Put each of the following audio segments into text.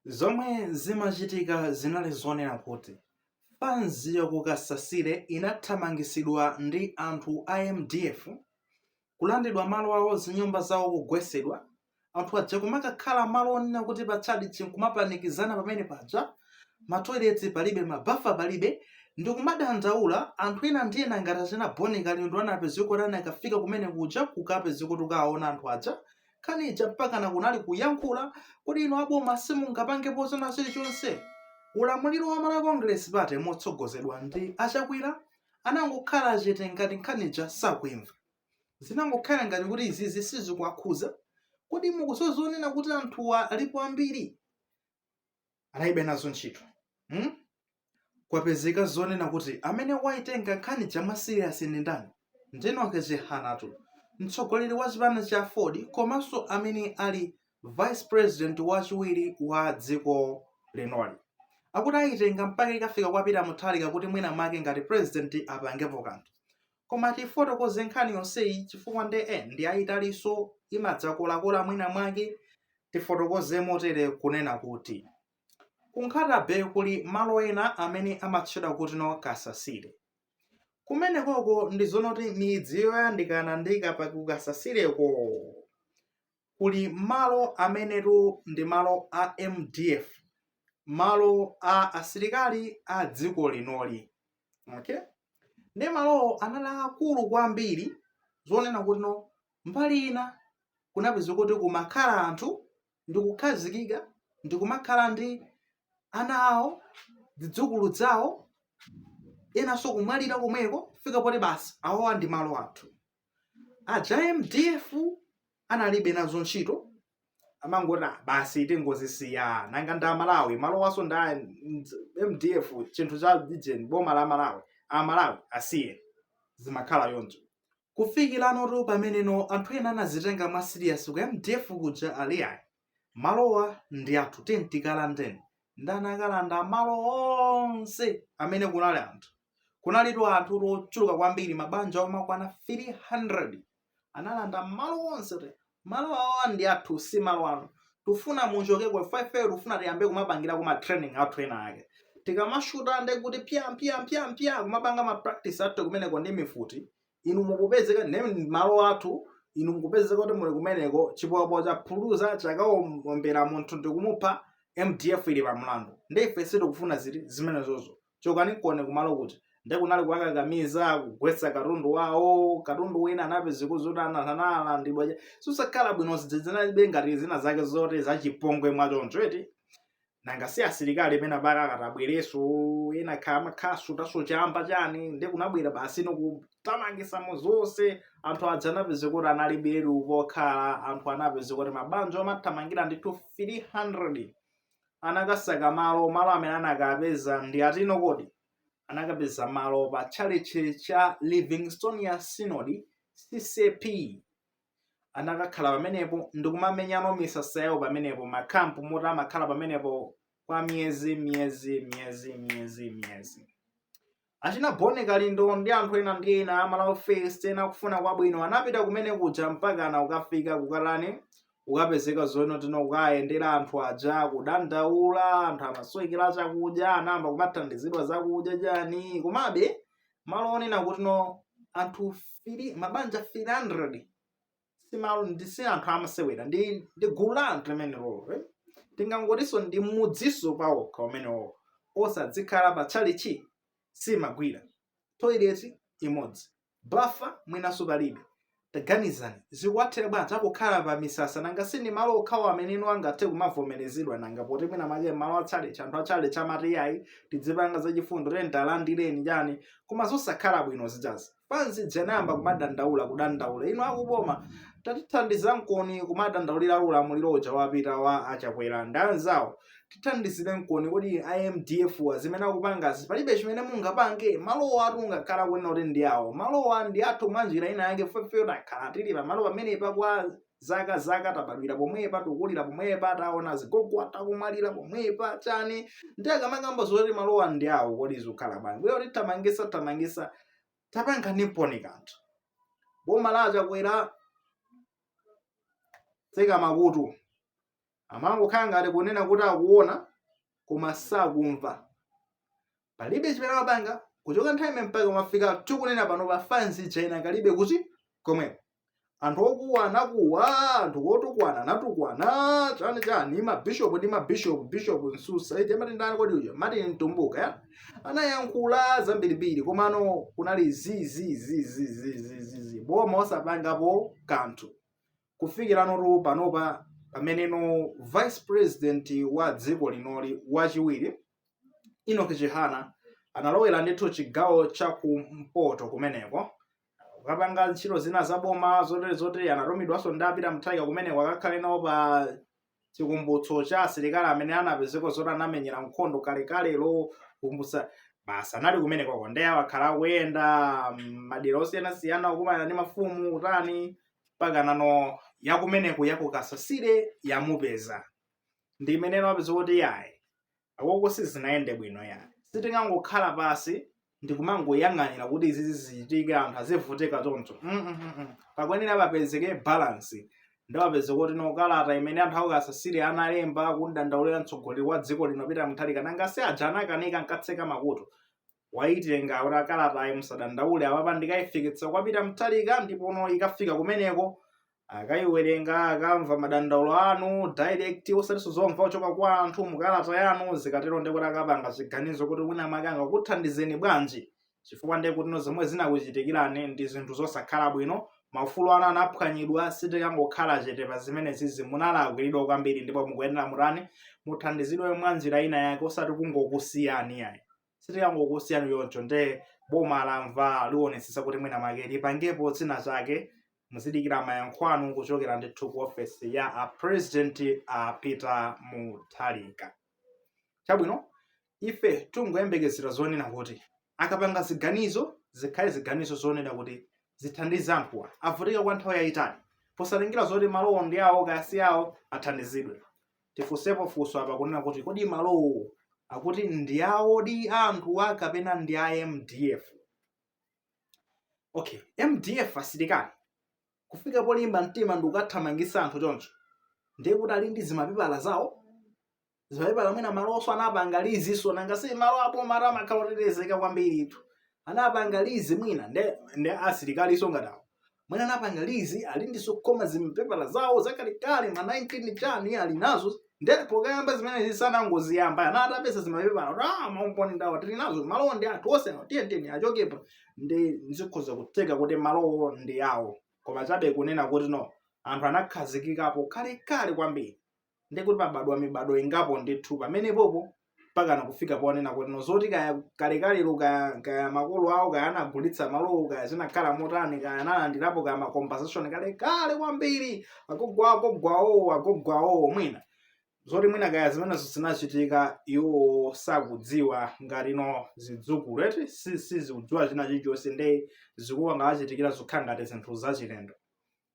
Zomwe zimachitika zinali zonena kuti mfundo ya ku Kasasire inathamangisidwa ndi anthu a mdf, kulandidwa malo awo zinyumba zawo kugwesedwa, anthu aja kumakakhala malo onena kuti pa tchalitchi nkumapanikizana pamene paja, ma toilet palibe ma bafa palibe, ndikumadandaula, anthu ena ndi ena ngati achina Bon Kalindo anapezeka kuti anakafika kumene kuja kukapezeka kuti kukawaona anthu aja, Nkhani ija mpakana kunali kuyankhula kodi inu aboma simungapangepo china chilichonse? Ulamuliro wa Malawi Congress Party motsogozedwa ndi a Chakwera anangokhala chete ngati nkhani ija sakuimva. Zinangokhala ngati kuti izizi sizikuwakhudza. Kodi mukudziwa zonena kuti anthuwa alipo ambiri? analibe nazo ntchito hmm? kwapezeka zonena kuti amene waitenga nkhani ija mwa siriyasi ndi ndani ndi enock chihanatu mtsogoleri wa chipani cha aford komanso amene ali vice president wachiwiri wa dziko linoli akuti ayitenga mpaka ikafika kwa pita mutharika kuti mwina make ngati president apangepo kanthu Koma tiifotokoze nkhani yonseyi chifukwa nde eh ndiyayitalinso, imadzakolakola mwina mwake tifotokoze motere kunena kuti ku Nkhata-bay kuli malo ena amene amatchedwa kutino Kasasire. Kumenekoko ndi zonoti midzi yoyandikana ndi ku Kasasireko kuli malo amenetu ndi malo a mdf malo a asilikali a dziko linoli okay ndiye malowo anali akulu kwambiri zonena kutino mbali ina kunapezeka kuti kumakhala anthu ndi kukhazikika ndi kumakhala ndi ana awo zidzukulu zawo enanso kumwalira komweko fika poti basi awowa ndi malo athu aja mdf analibe nazo ntchito amangoti "Ah, basi tingowasiya nanga ndi amalawi malowanso ndi a mdf chinthu cha lijeni boma la malawi amalawi asiye azikhala choncho kufikiranotu pameneno anthu ena anazitenga mwa siriasi ku mdf kuja aliyayi malowa ndi athu tiyeni tikalandeni ndiye anakalanda malo onse amene kunali anthu kunalitu anthu ochuluka kwambiri mabanja omakwana 300 analanda malo onse ate malo awa ndi athu si malo anu tufuna muchokeko ifeyo tufuna tiyambe kumapangira kuma training athu ena ake tikamashuta nde kuti pya pya pya pya kumapanga ma practice athu kumeneko ndi mifuti inu mukupezeka nayo m'malo athu inu mukupezeka kuti muli kumeneko chipopo chaphuluza chakaombera munthu ndikumupha mdf ili pa mlandu ndi ife sitikufuna ziri zimenezozo chokani kone kumalo kuti ndi kunali kuwakakamiza kugwetsa katundu wawo katundu wina anapezeka zoti ana- analandidwa cha- zosakhala bwino zijazi zinali ngati zina zake zoti zachipongwe mwachoncho eti nanga si asilikali pena pake akatabwereso ena amakhala amakasutaso chamba chani nde kunabwera basi nkutamangisamo zonse anthu aja anapezeka kuti analibiretu pokhala anthu anapezeka kuti mabanja amathamangira ndithu 300 anakasaka malo malo amene anakapeza ndi atino kodi anakapeza malo pa tchalitchi cha livingstonia synod ccap anakakhala pamenepo ndikumamenya misasa yawo pamenepo makampu moti amakhala pamenepo kwa miyezi miyezi miyezi miyezi miyezi achina bon kalindo ndi anthu ena ndi ena amalawi first ena akufuna kwabwino anapita kumene kuja mpakana kukafika kukatani kukapezeka zoti no kukawayendera anthu aja kudandaula anthu amasowekera chakudya anayamba kumathandizidwa zakudya chani komabe malo onena kuti no anthu fili mabanja 300 si malo ndi si anthu amasewera ndi ndi gulu la anthu limenelolo eh? tingangotinso ndi mudziso pawokha umenewo onse adzikhala pa tchalichi zimagwira toilet imodzi bafa mwinanso palibe Taganizani, zikuwathera bwanji akukhala pa misasa, nanga si ndi malo okhawo amene iwo angathe kumavomerezidwa nanga, poti mwina mwake m'malo a tchalitchi, anthu a tchalitchi amati iyayi, tidzipanga za chifundo, tiyeni talandireni, chani, koma zosakhala bwino zijazi. Fans ija inayamba kumadandaula, kudandaula, inu a ku boma, tatithandizankoni kumadandaulira ulamuliro uja wapita wa a Chakwera ndi anzawo, tithandizireni koni kodi imdf wa zimene akupangazi palibe chimene mungapange malowa angakhale kunena kuti ndi awo malowa ndi athu mwa njira ina yake ifeyo takhala tili pamalo pamenepa kwa zaka zaka tabadwira pomwepa tikulira pomwepa taona azigogo athu akumwalira pomwepa chani ndi akamakamba zoti malowa ndi awo kodi zikukhala bwanji iwo kutitamangisatamangisa tapanganiponi kanthu boma la chakwera tseka makutu amangokhala ngati kunena kuti akuona koma sakumva palibe chimene amapanga kuchoka nthawi imene mpaka kumafika tikunena pano fanzi ija inakali kuti komweko anthu okuwa anakuwa anthu otukwana anatukwana chani chani mabishopu ndi mabishopu bishopu nsusa eti amati ndani kodi uja mati mtumbuka ya anayankhula zambirimbiri komano kunali zizizizizizizi boma osapangapo kanthu kufikira anthu panopa pamene no vice president wa dziko linoli wachiwiri Enock Chihana analowera ndithu chigawo cha kumpoto kumeneko kukapanga ntchito zina zaboma zotere zotere anatumidwanso ndi a Peter Mutharika kumeneko akakhale nawo pa chikumbutso cha asilikali amene anapezeka zoti anamenyera nkhondo kalekalelo kukumbutsa basi anali kumenekoko ndiye akhala akuyenda madera osiyanasiyana kukumana ndi mafumu kutani mpaka nano yakumeneko yakuKasasire yamupeza ndiye mmene apeza kuti iyayi Uko sizinayende bwino yayi. Sitingangokhala pansi ndikumangoyang'anira kuti izizi zichitike anthu azivutika choncho. Mm -mm -mm. Pakuyenera papezeke balance. Nde apeza kuti no kalata imene anthu akuKasasire analemba kudandaulira mtsogoleri wa dziko lino Peter Mutharika nanga si aja anakanika ankatseka makutu. Waitenga kuti a kalatayi musadandaule apapa ndikaifikitsa kwa Peter Mutharika ndipono ikafika kumeneko akaiwerenga akamva madandaulo anu direct osatinso zomva kuchoka kwa anthu mukalata yanu zikatero ndiye kuti akapanga chiganizo kuti wina mwake angakuthandizeni bwanji chifukwa ndithu zomwe zinakuchitikirani ndi zinthu zosakhala bwino maufulu anu anaphwanyidwa sitikangokhala chete pa zimenezizi munalakwiridwa kwambiri ndipo mukuyenera mutani muthandizidwe mwa njira ina yake osati kungokusiyani ayi sitikangokusiyani choncho nde boma lamva liwonetsetsa kuti mwina make lipangepo zina zake muzidikira mayankho anu kuchokera ndithu ku ofesi ya a president a Peter Mutharika chabwino ife tingoyembekezera zonena kuti akapanga ziganizo zikhale ziganizo zonena kuti zithandize anthuwa avutika kwa nthawi yayitali posatengera zoti malowo ndi awo kaya si awo athandizidwe Tifunsepo funso apa kunena kuti kodi malowo akuti ndi awodi a anthuwa kapena ndi a mdf okay mdf asilikali kufika polimba mtima ndikukathamangisa anthu choncho ndiye kuti ali ndi zimapepala zawo zimapepala mwina malowonso anapanga lizinso nanga si malo aboma amakhala otetezeka kwambiritu anapanga lizi mwina nde nde asilikalinso ngati awo mwina anapanga lizi ali ndi zokhoma zimapepala zawo zakalekale ma 19 chani ali nazo nde kuti pokayamba zimene zisanangoziyamba ana atapeza zimapepala kuti ah maumboni ndawa tili nazo malowo ndi athu onsewa tiyeni achokepo ndi zikhoza kutheka kuti malowo ndi awo koma chabe kunena kuti no anthu anakhazikikapo kalekale kwambiri ndiye kuti pabadwa mibadwo ingapo ndithu pamenepopo mpakana kufika ponena kuti no zoti kaya kalekalelo kaya, kaya makolo awo kaya anagulitsa malowo kaya zinakhala motani kaya analandirapo kaya macompensation kale kale kwambiri agogo a agogo awo agogo awo mwina zoti mwina kaya zimenezo zinachitika iwo sakudziwa ngati ino zidzukulu eti si- sizikudziwa china chilichonse nde zikungowachitikira zokhala ngati zinthu zachilendo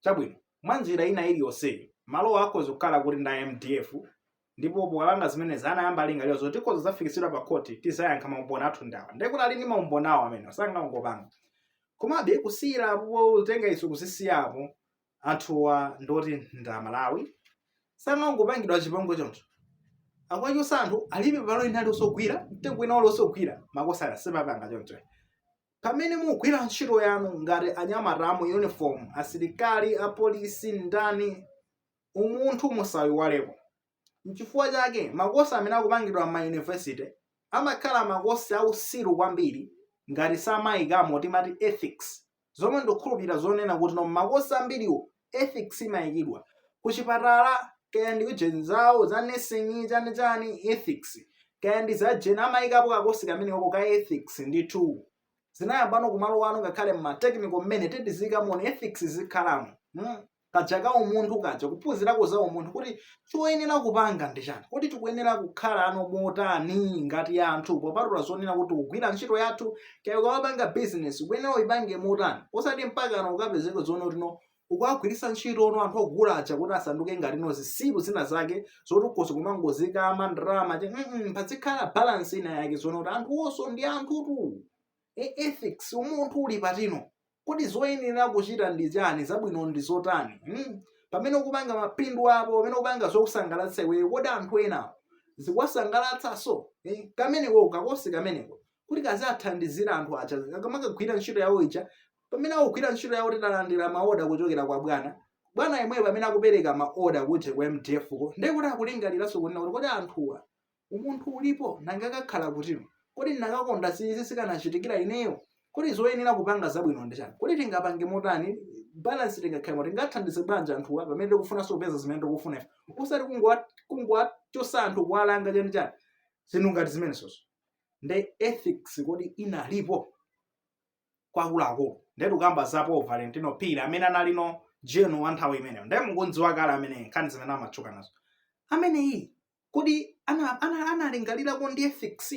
Chabwino, mwa njira ina iliyonseyo, malowo akhoza kukhala kuti ndi a mdf ndipo pokapanga zimenezi anayamba lingaliro zoti tikhoza zafikitsidwa pa khoti tidzayankha maumboni athu ndi awa ndiye kuti ali ndi maumboni awo amene sangangopanga komabe kusiyira apo kutenga izo kuzisiya apo anthuwa ndoti ndi amalawi sangangopangidwa chipongwe choncho akuwachotsa anthu alibe palo ina aliyonse yogwira mtengo ina wali osogwira makosana simupanga choncho pamene mukugwira ntchito yanu ngati anyamata a mu uniform asilikali apolisi ndani umunthu musayiwaleko nchifukwa chake makosi amene akupangidwa mma university amakhala makosi ausiru kwambiri ngati samayikamo timati ethics zomwe ndikukhulupirira zonena kuti no makosi ambiriwo ethics imayikidwa kuchipatala kaya ndi ujeni zawo za nursing chani chani ethics kaya ndi za jeni amayikako kakosi kameneko ka ethics ndithu zinayambano kumalo anu ngakhale mma technical mmene titi tizikaona ethics zikhalemo hmm? kaja ka umunthu kaja kuphunzirako za umunthu kuti choyenera kupanga ndi chani? Kodi tikuyenera kukhalano motani ngati anthu popatula zonena kuti tikugwira ntchito yathu kaya ukamapanga business ukuyenera uyipange motani osati mpakana ukapezeke zonena kuti no ukuwagwiritsa ntchitono anthu ogula aja kuti asanduke ngati no zisiru zina zake zoti ukhoza kumangozikama ndalama mm -mm, pazikhala balance ina yake zonena kuti anthuwonso ndi anthutu e ethics umunthu uli patino kodi zoyenera kuchita ndi chani zabwino ndi zotani hmm? pamene ukupanga mapindu apo pamene ukupanga zokusangalatsa iweyo kodi anthu enawo zikuwasangalatsanso eh? kameneko kakosi kameneko kuti kamathandizira anthu aja akamakagwira ntchito yawo ija pamene akugwira ntchito yawo atalandira maoda kuchokera kwa bwana bwana yemweyo pamene akupereka maoda kuti ku mdf ko ndiye kuti akulingaliranso kunena kuti kodi anthuwa Umunthu ulipo, nanga akakhala kuti? Kodi ndinakakonda si izi zikanachitikira ineyo? Kodi zoyenera kupanga zabwino ndi chani? Kodi tingapange motani balance tingakhale mo- tingathandize bwanji anthuwa pamene tikufunanso kupeza zimene tikufuna ife? Osati kungowa kungowachotsa anthu kuwalanga chani chani. Zinthu ngati zimenezozo. Nde ethics kodi inalipo kwa akuluakulu? Nde tikukamba za Paul Valentino Phiri amene analino general wa nthawi imeneyo. Nde mukudziwa kale amene nkhani zimene amatchuka nazo. Ameneyi kodi ana- ana- analingalirako za ethics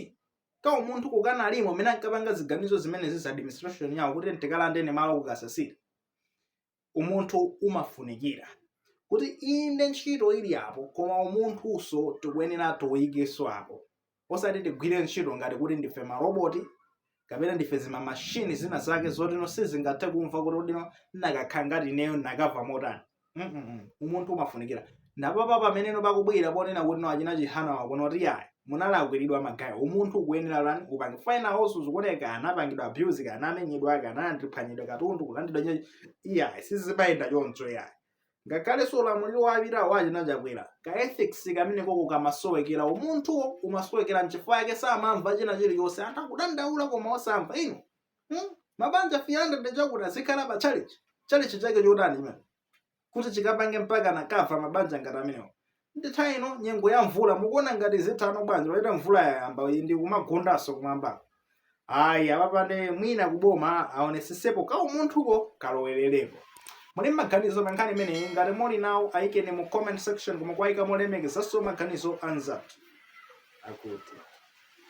ka umunthu kakanalimo mmene ankapanga ziganizo zimenezi za administration yawo kuti tikalandeni malo ku Kasasile umunthu umafunikira kuti inde ntchito ili apo koma umunthunso tikuyenera tiuyikenso apo osati tigwire ntchito ngati kuti ndife maroboti kapena ndife zima mashini zina zake zotino sizingathe kumva kuti nanga akakhala ngati ineyo ndikanamva motani Mm-mm-mm. umunthu umafunikira ndiye apa pamene pakubwera ponena kuti no achina chihana wakuno kuti yayi munalakwiridwa magaye umunthu ukuyenera lani upange fina hosu zikuoneka anapangidwa abuse kana amenyedwa kana andiphwanyidwa katundu kulandidwa iyayi sizimayenda choncho iyayi ngakhalenso ulamuliro wapitawo wa achina Chakwera ka ethics kameneko kamasowekera umunthuwo umasowekera nchifukwa chake samamva china chilichonse anthu akudandaula koma osamva iwo hmm? mabanja 300 akuti azikhala pa chalichi chalichi chake chotani chimene kuti chikapange mpaka akamva mabanja ngati amenewo ndi nthawi ino nyengo ya mvula mukuona ngati zitha bwanji poti mvula yayamba iyi ndi kumagundanso kumwamba ayi apapande mwina kuboma aonesesepo kaumunthuko kalowererepo muli ndi maganizo pa nkhani imeneyi ngati muli nawo ayikeni mu comment section koma powayika molemekezanso maganizo anzathu akuti